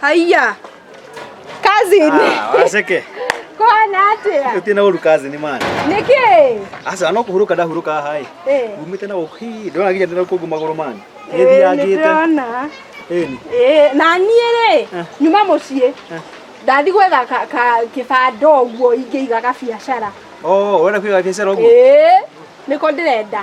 Haiya. Cousin. Ah, waceke Kwana atia. utie na uru kazi ni mani Niki. aca no kuhuruka ndahuruka hai Eh. umite na uki ndona ginya ndina kungu maguru mani Eh, ngithiangite nĩndĩrona. eni Eh, na niĩ rĩ nyuma mũciĩ ndathi gwetha ka- ka- kĩbanda ũguo ingĩiga gabiacara oh wena kwiga biacara ugu Eh, niko ndĩrenda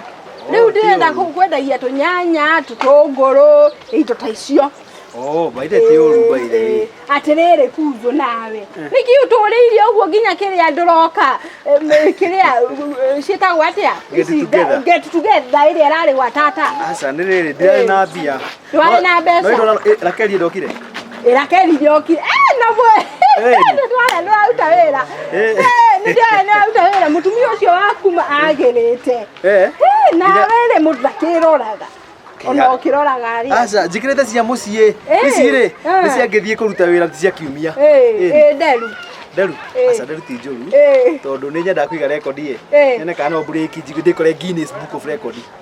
rĩu ndĩrenda kũ- kwendagia tũnyanya tũtũngũrũ indo ta icio Oh, baithe ti ũru baithe. atĩrĩrĩ kunjũ nawe nĩkĩ ũtũrĩire ũguo nginya kĩrĩa ndũroka em, kĩrĩa eh, ciĩtagwo atĩa Get Ici, together. get together ĩrĩa ĩrarĩ gwa tata Aca nĩ rĩrĩ ndirarĩ na mbia. ndwarĩ na mbeca rakeli ndokire rakeli ndokire nabwe ndwara ndwaruta wĩra nĩndĩrona ndwaruta wĩra mũtumia ũcio waku agĩrĩte nawe rĩ mũndũ ndakĩroraga ona ũkĩroraga rĩ aca njĩkĩrĩte cia mũciĩ ici rĩ nĩ ciangĩthiĩ kũruta wĩra cia kiumia nderu nderu aca nderu ti njũru tondũ nĩ nyendaga kũiga rekondi ĩ nyone kana no mburĩki ndĩkore Guinness Book of Record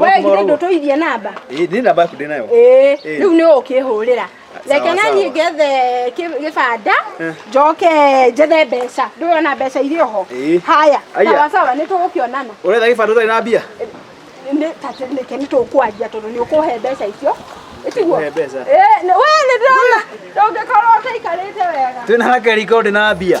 we githä ndå tå ithie namba nä namba yaku ndä nayo Ĩĩ, Ĩĩ. rĩu nĩ ũkĩhũrĩra Sawa, reke na sawa. niĩ ngethe kĩ- gĩbanda Eh. njoke njethe mbeca ndũyona mbeca irĩ oho Ĩĩ. haya Aya. sawa sawa nĩ tũgũkĩonana ũretha gä bandå tarä na mbia Nĩ- ta- nĩke nĩ tũkwanjia tondå nĩ ũkũhe mbeca icio ĩtiguo Ũkũhe mbeca? we nĩ ndĩrona ndũngĩkorwo ũtaikarĩte wega twä na hakeriko ndä na mbia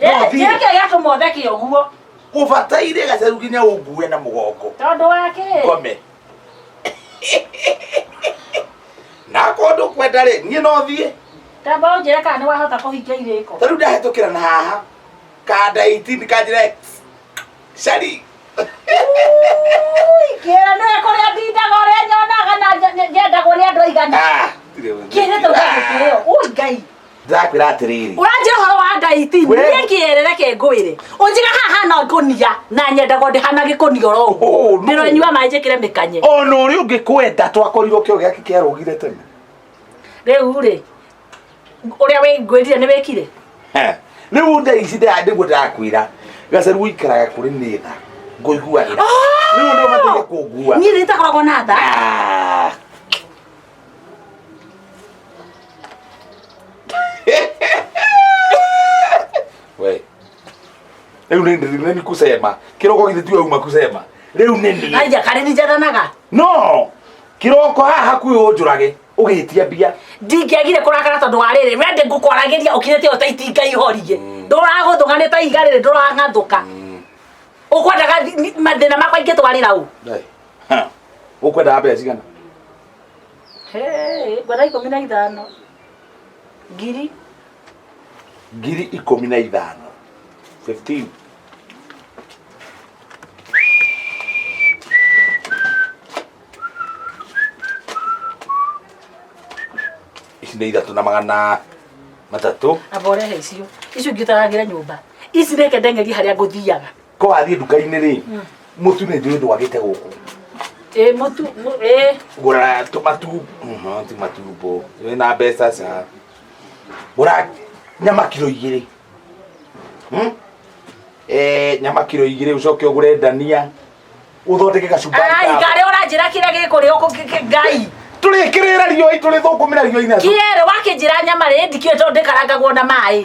Ĩĩ, kĩrĩa kĩrĩa gĩatũma ũtheke ũguo ũbataire gacaru nginya ũngue na mũgongo tondũ wa kĩ ngome na kũndũ kwenda rĩ niĩ no thiĩ tamba ũnjĩre kana nĩ wahota kũhingia irĩko tarĩu ndahĩtũkĩra na haha kanda 18 kanjĩra X. cari kĩra nĩ kũrĩa ndindaga ũrĩa nyonaga na nje- nje- njendagwo nĩ andũ aigana Ah, ndirĩ ũndũ. kĩrĩte ũgagĩkĩrĩo ũi ngai ndĩrakwĩra atĩrĩrĩ ũranjĩra ũhoro wa ngai ti We- niĩ kĩerere ke ngwĩre ũnjiga haha na ngũnia na nyendago ndĩhana gĩkũnia oro ũguo Oh, no. ndĩronyua maĩ njĩkĩre mĩkanye ona ũrĩa ũngĩ kwenda twakorirwo kĩo gĩake kĩarũgire tene rĩu rĩ ũrĩa wĩngwĩrire nĩ wĩkire He. rĩu nda ici nda- nĩguo ndĩrakwĩra gacaru ũikaraga kũrĩ nĩ tha ngũiguagĩra rĩu nĩ ũbataire kũngua niĩ nĩtakoragwo na tha Ah. we riu ni ni ni kusema kiroko githi tiwe uma kusema riu ni ni aija kare ni jatanaga no kiroko haha kwi unjurage ugitia mbia ndingĩagire kũrakara tondũ wa rĩrĩ we ndĩ ngũkwaragĩria ũkinyĩte ĩyo ta itinga ihorie ndũragũthũka nĩ ta iga rĩrĩ ndũrang'athũka ũkwendaga thi- ni- mathĩna makwa ingĩtwarĩra ũ Dai. ũkwendaga mbeca cigana Hey, ngwenda ikũmi na ithano ngiri ngiri ikũmi na ithano 15 ici nĩ ithatũ na magana matatũ aba ũrehe icio icio ingĩ ũtaragĩre nyũmba ici reke ndengerie harĩa ngũthiaga ko wathiĩ nduka-inĩ rĩ mũtu nĩ njũĩ ndwagĩte gũkũ ĩ mũtu mũ- ĩ gũra tũmatu mhm, ti matumbo wĩ na mbeca ca gũra nyama kiro igĩrĩ Hmm? Eh, nyama kiro igĩrĩ ũcoke ũgũre ndania ũthondeke gacumbari ai ka- ngarĩ ũranjĩra kĩrĩa gĩkũrĩa ũkũ kĩ- kĩ- ngai tũrĩkĩrĩra riũi tũrĩthũkũmĩra riũi na kĩerĩ wakĩnjĩra nyama rĩ ndikĩũĩ tondũ ndĩkarangagwo na maĩ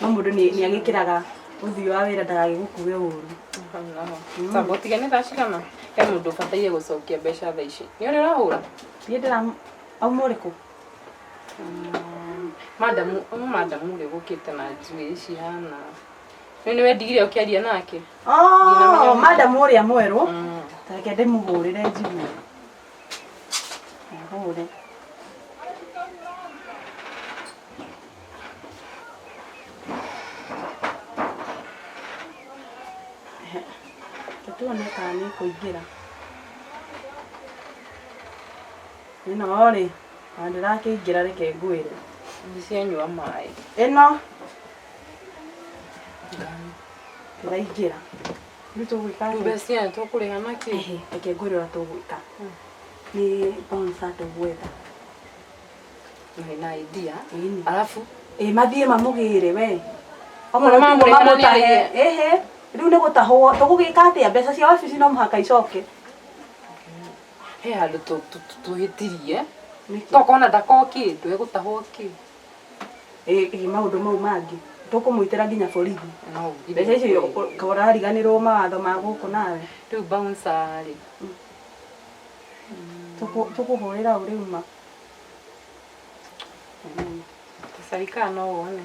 no mũndũ nĩ nĩ agĩkĩraga ũthiũ wa wĩra ndagagĩgũkue ũru Samba ũtige nĩ thaa cigana he mũndũ ũbataire gũcokia mbeca thaa ici nĩ ũrĩ ũrahũra niĩ ndĩra auma ũrĩkũ madamu ũyũ madamu ũrĩa ũgũkĩte na njuĩ cihana rĩu nĩ wendigire ũkĩaria nake Oh, madam ũrĩa mwerũ reke ndĩmũhũrĩre njigue Ihumure. Tũtuone kana nĩ kũingĩra. Ĩno rĩ, na ndĩrakĩingĩra reke ngwĩre. Ndicianyua maĩ. Ĩno ndĩraingĩra. rĩu tũgwĩka atĩa? mbeca aya tũkũrĩha na kĩ Ehe, reke ngwĩre ũrĩa tũgwĩka nĩ bonsa tũgwetha Nĩ na idea Ĩni. alafu ĩ mathiĩ mamũgĩre we Okorwo mamũrĩha na nĩarĩhe. ehe rĩu nĩ gũtahwo tũgũgĩka atĩa mbeca cia wabici no mũhaka icoke he handũ tũ- tũ- tũ- twĩtirie Nĩkĩ? tokona ndakokĩndũ egũtahwo kĩ ĩ ĩ maũndũ mau mangĩ tũkũmwĩtĩra nginya borithi No nginya mbeca icio kweli. ka ũrariganĩrwo mawatho ma gũkũ nawe Rĩu bouncer rĩ. Tũkũ- tũkũhũrĩra ũ rĩu ma Tũcarikaa no wone.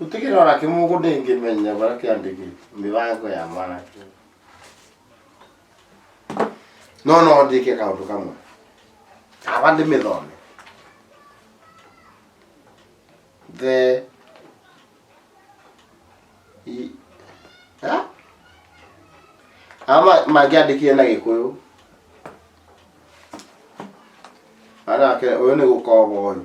Gũtikĩrĩ ona kĩmwe ũguo ndĩngĩmenya bara kĩandĩkĩte mĩbango ya mwanake. No no ndĩke kaũndũ kamwe. Aba ndĩmĩthome. The i- Ha? Ama mangĩandĩkire na gĩkũyũ. Anake ũyũ nĩ gũkoba ũyũ.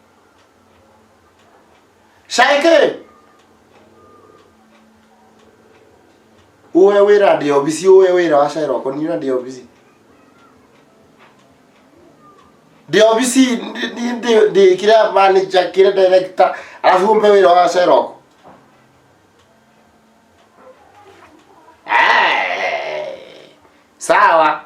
Shaike! Uwe wĩra ndĩ obici, uwe wĩra wa Shaira ũkwa niĩ ndĩ obici. Ndĩ obici ndĩ- ndĩ- ndĩ- ndĩ kĩrĩa manager kĩrĩa director alafu umpe wĩra wa Shaira ũkwa. Eh, Sawa.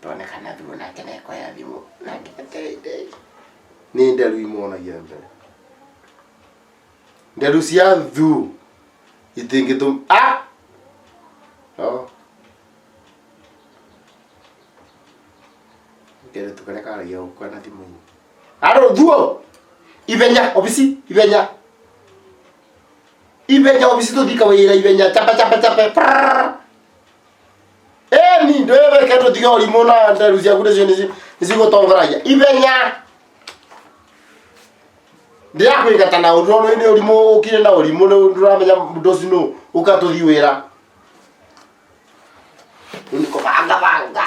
twone kana thimũ nake nekoya thimũ nake ateithei nĩ nderu imonagia mbere nderu cia thu itingĩtũm ah! no kere tukare karagia gũkua na thimũ-inĩ arũ thuo ithenya obici ithenya ithenya obici tũthika wĩra ithenya chapa chapa chapa prrrr. ĩni ndwĩreke tũtige ũrimũ na nderu ciaku nĩcio nĩci- nĩcigũtongoragia ithenya ndĩrakwĩgata na ũndũ ũrĩa nĩ ũrimũ ũkire na ũrimũ rĩu ndũramenya mũndũ ũcio nũ ũkatũthi wĩra rĩu nĩ kũbangabanga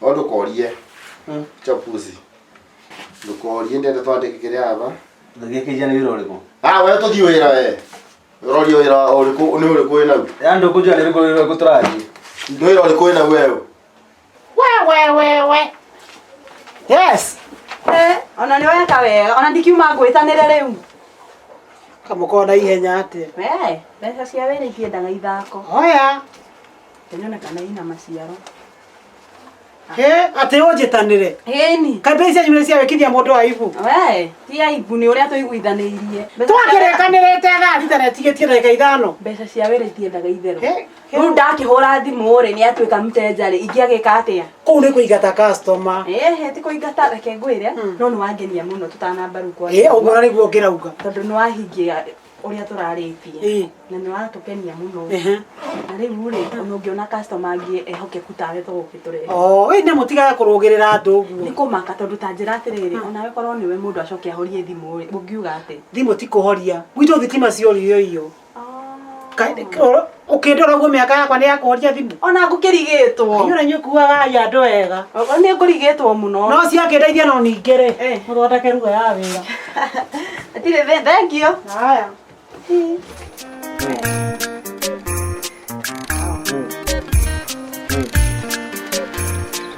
no ndũkorie chapuzi ndũkorie ndende twandĩke kĩrĩa aba Ndagĩkĩja nĩ wĩra ũrĩkũ? ah we tũthiĩ wĩra we ũroria wĩra ũrĩkũ nĩ ũrĩkũ wĩ nau Yaani ndio kujua ndio kujua kutaraji. nĩ wĩra ũrĩkũ wĩ nau wewe Yes. Eh, ona nĩ weka wega ona ndikiuma ngwĩtanĩre rĩu kamũkorwo na ihenya atĩ we mbeca cia wĩra ikĩendaga ithako oya ĩnyonekana ina maciaro Eh, atĩ ũnjĩtanĩre Ĩni. kambĩ icio nyumĩrĩ cia wĩkithia mũndũ wa ibu We, ti aibu nĩ ũrĩa tũiguithanĩirie. Mbeca cia- twakĩrĩkanĩrĩte thaa thita na ĩtigĩtie ndagĩka ithano Mbeca cia wĩra itiendaga itherũ. Eh, eh. Rĩu ndakĩhũra thimũ-rĩ nĩ atuĩka mtenjarĩ ingĩagĩka atĩa? kũu nĩ kũingata customer Ehe, ti kũingata reke ngwĩre no nĩ wangenia mũno tũtanamba rĩu kwa. ĩ ũguo na nĩguo ngĩrauga Tondũ nĩ wahingia ũrĩa tũrarĩtie Ĩĩ. na nĩ waratũkenia mũno Ehe. na rĩu rĩ ona ũngĩona customer angĩ ehokeku tawe to gũkĩ tũrehe Oh, we nĩ mũtigaga kũrũgĩrĩra andũ nĩ ũguo kũmaka tondũ ta njĩra atĩrĩrĩ onawe korwo nĩwe mũndũ acoke ahorie thimũ rĩ ũngiuga atĩ thimũ ti kũhoria gwitũ thitima ciorioiyo Ũkĩndora ũguo mĩaka yakwa nĩ ya kũhoria thimũ. Ona ngũkĩrigĩtwo. Inyũra inyuĩ kuaga ai andũ wega. Ogo nĩ ngũrigĩtwo mũno. No ciakĩndeithia no ningĩ rĩ. Eh. Mũthondeke ruga ya wĩra. Atirĩ thĩ thengio. Haya.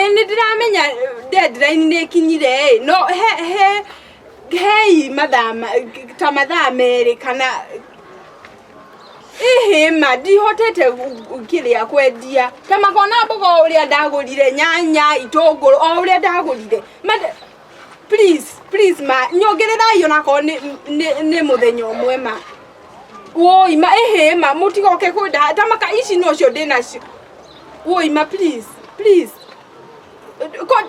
ĩ nĩ ndĩramenya deadline nĩ ĩkinyire ĩ no he he hei mathaa ma- ta mathaa merĩ kana ihĩma ndihotete gu- gu- kĩrĩa kwendia ta makona mboga o ũrĩa ndagũrire nyanya itũngũrũ o ũrĩa ndagũrire Mate- please please ma nyongererai ona korwo nĩ nĩ- nĩ mũthenya ũmwe ma woi ma ĩhĩ ma mũtigoke kwenda ta maka ici nocio ndĩ nacio woi ma please please Ko-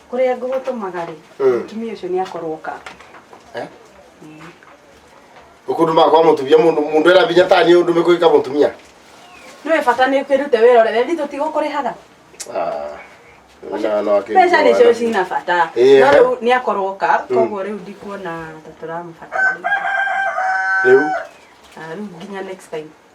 kũrĩa ngũgũtũmaga rĩ Mm. mũtumia ũcio nĩ akorwo ka Eh? Ukundu mako wa mutumia mundu mundu era binya tani undu mekuika mutumia. nĩwe bata nĩ kwĩrute wĩra ũrĩa wendi tũtigũkũrĩhaga Ah. Na no akiri. mbeca nĩcio cina bata Ĩĩ, no eh. rĩu nĩ akorwo ka koguo rĩu ndikuona ta tũramũbatara Riu Ah, rĩu nginya next time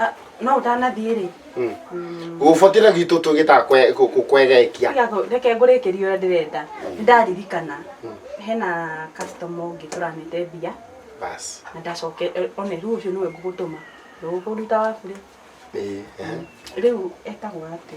Ah, no ũtanathiĩ rĩ gũbokĩra gwitũ tũgĩtaga kwe- kũ- kũ- kwegekia Tiga kũ- reke ngũrĩkĩrie ũrĩa ndĩrenda Nĩ ndaririkana hena customer ũngĩ tũranĩte mbia basi na ndacoke eh, one rĩu ũcio nĩwe ngũgũtũma ndũgũkũruta waku rĩ Ĩĩ, ehe. rĩu etagwo atĩ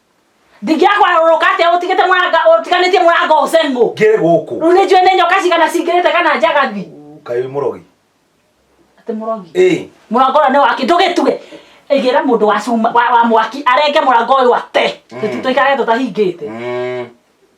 ndingĩakwa rũrũ kate ũtigĩte mũranga ũtiganĩtie mũranga ũcen mũ ngĩrĩ gũkũ rĩu nĩ njũĩ nĩ nyoka cigana cingĩrĩte kana njagathi kaĩ wĩ mũrogi atĩ mũrogi ĩĩ mũrango ũrĩa nĩ waki ndũgĩtuge ĩgĩra mũndũ wa cuma wa wa mwaki arenge mũrango ũyũ ate Mm. tũtikage tũtahingĩte Mm.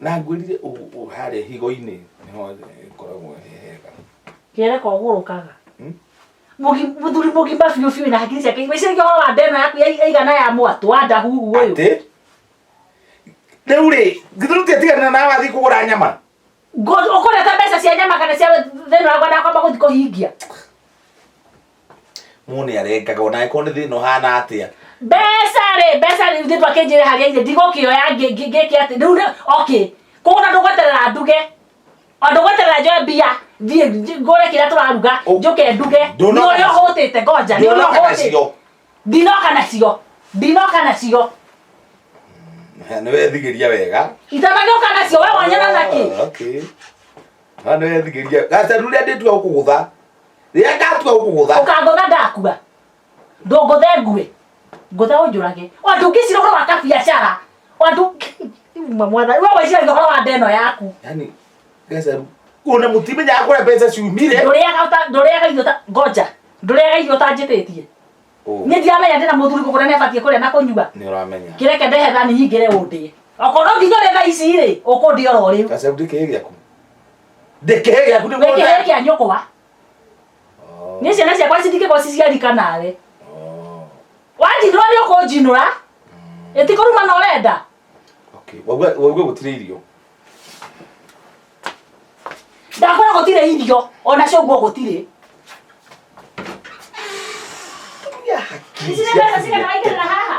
Na ngwĩrire ũguo harĩa higo-inĩ nĩho ĩkoragwo ĩ hega. Kĩere kogũrũkaga. Hmm? Mũthuri mũgima biũ biũ na hakiri ciake igwĩciria ũhoro wa ndeno yaku yaigana ya mwatũ wa ndahuhu ũyũ. Atĩ? Rĩu rĩ, githuru tiatigana na wathiĩ kũgũra nyama. Ũkũreta mbeca cia nyama kana cia thĩna wakwa ndakwamba gũthiĩ kũhingia. mũndũ nĩ arengaga ona angĩkorwo nĩ thĩna ũhana atĩa mbeca rĩ mbeca rĩ thipa kĩnjĩre harĩa irĩ ndigũkĩoya ngĩ- ngĩ- ngĩke atĩ rĩu rĩ- okay koguo na ndũgweterera nduge o ndũgweterera njoe mbia thiĩ nj- ngũre kĩrĩa tũraruga Ũ- njoke nduge nĩ Ndũnoka ũrĩa nacio. ũhũtĩte ngoja nĩ ũrĩa ndũnoka ũhũtĩte nacio ndinoka nacio ndinoka nacio nĩ wethigĩria wega itanagĩoka nacio we wanyona nakĩ Ah, okay. Ah, nĩ wethigĩria gacaru rĩa ndĩtua gũkũgũtha rĩrĩa ndatua gũkũgũtha ũkangũtha ndakua ndũngũthe ngue ngũtha ũnjũrage andũ ngĩcira ũhoro wa kabiacara andũ uma mwana we weciragia ũhoro wa ndeno yaku yani gacaru ona mũtimenyaga kũrĩa mbeca ciumire ndũrĩaga ũta- ndũrĩaga irio ta- ngoja ndũrĩaga irio ũtanjĩtĩtie Ũũ, niĩ ndiramenya ndĩna mũthuri kũgũra nĩ abatiĩ kũrĩa na kũnyua nĩ ũramenya kĩreke ndehe thani nyingĩre ũndĩe okorwo nginya ũrĩa thaa ici rĩ ũkũndĩa oro rĩu gacaru ndĩkĩrĩ gĩaku ndĩkĩhe gĩaku nĩ wĩkĩhe mũthee kĩa nyũkwa nĩ ciana ciakwa citingĩkorwo ciciarika nawe wanjinũra nĩ ũkũnjinũra ĩtikũruma na ũrenda waigua gũtirĩ irio ndakora gũtirĩ irio ona cũguo gũtirĩ Ici nĩ mbeca cigana waigĩrĩra haha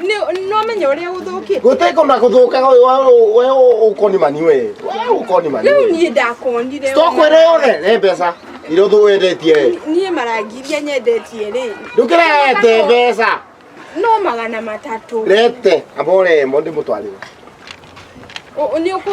nĩwamenya ũrĩa gũthũkĩte gũteko na gũthũkaga ũyũ wa- we ũkonimani we we ũkonimani rĩu niĩ ndakonire tokwĩre yothe nĩ mbeca iria ũthũ wendetie we niĩ marangiria nyendetie rĩ ndũkĩrete mbeca no magana matatũ rete amba ũremo ndĩmũtwarĩre Ũ- ũ- nĩ ũkũ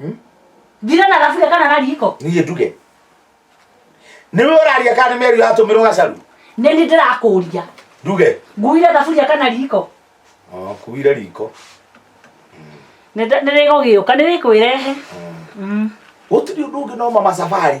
Hmm? Thira na thaburia kana na riko. Niĩ nduge. Nĩwe ũraria kana nĩ meri yatũmĩrwo gacaru? Nĩ nĩ ndĩrakũria. Nduge. Nguire thaburia kana riko. Oh, kuire riko. Nĩ nĩ gũgĩũka nĩ wĩkwĩrehe. Hmm. Hmm. Gũtirĩ ũndũ ũngĩ no mama safari.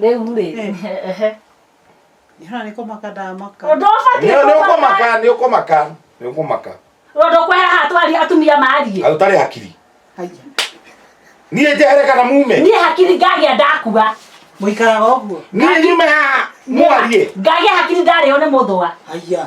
rĩu rĩ ehe Hana nä kå maka ndamaka ũndũ ũbatiĩ Nĩ- nĩ kũmaka ũkũmaka nĩ ũkũmaka nĩ ũkũmaka ũndũ kweheha twaria atumia mariĩ na ũtarĩ hakiri haiya niĩ njehere kana mume niĩ hakiri ngagĩa ndakua må ikaraga å guo niĩ nyume haha mwarie ngagĩa hakiri ndarĩo nĩ mũthũa haiya